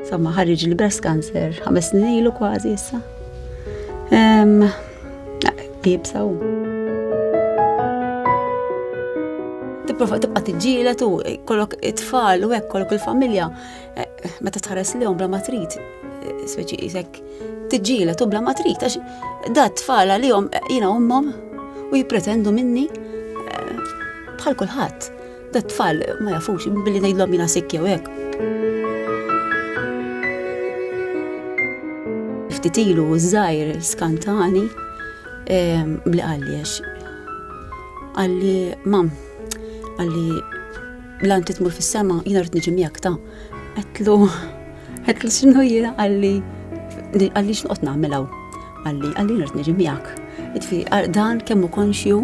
Somma ħarriġ li breast cancer ħames snin ilu kważi issa. Jibsaw. Tipprova tibqa' tiġġielet u kollok it-tfal u hekk kollok il-familja eh, meta tħares lihom bla ma trid eh, speċi isek tiġġielet u bla ma trid għax da tfal għalihom eh, jiena ummhom u jippretendu minni bħal kulħadd. Dat-tfal ma jafux, billi ngħidlhom jiena sikk jew hekk. Ftit ilu żgħir skantani ehm, li qalli għax qalli mam qalli lan titmur fis-sema jiena rrid niġi miegħek ta' qedlu qedlu x'inhu jiena qalli qalli x'noqgħod nagħmel hawn. Qalli qalli rrid niġi miegħek. Itfi dan kemm hu konxju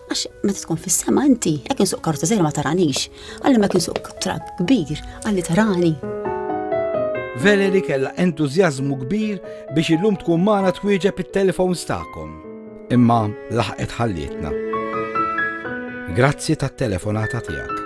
Għax meta tkun fis-sema inti, jekk insuq karozza żgħira ma taranix, għalli ma kien suq trak kbir, għalli tarani. Valerie kella entużjażmu kbir biex illum tkun magħna twieġeb it-telefons tagħkom. Imma laħqet ħallietna. Grazzi tat-telefonata tiegħek.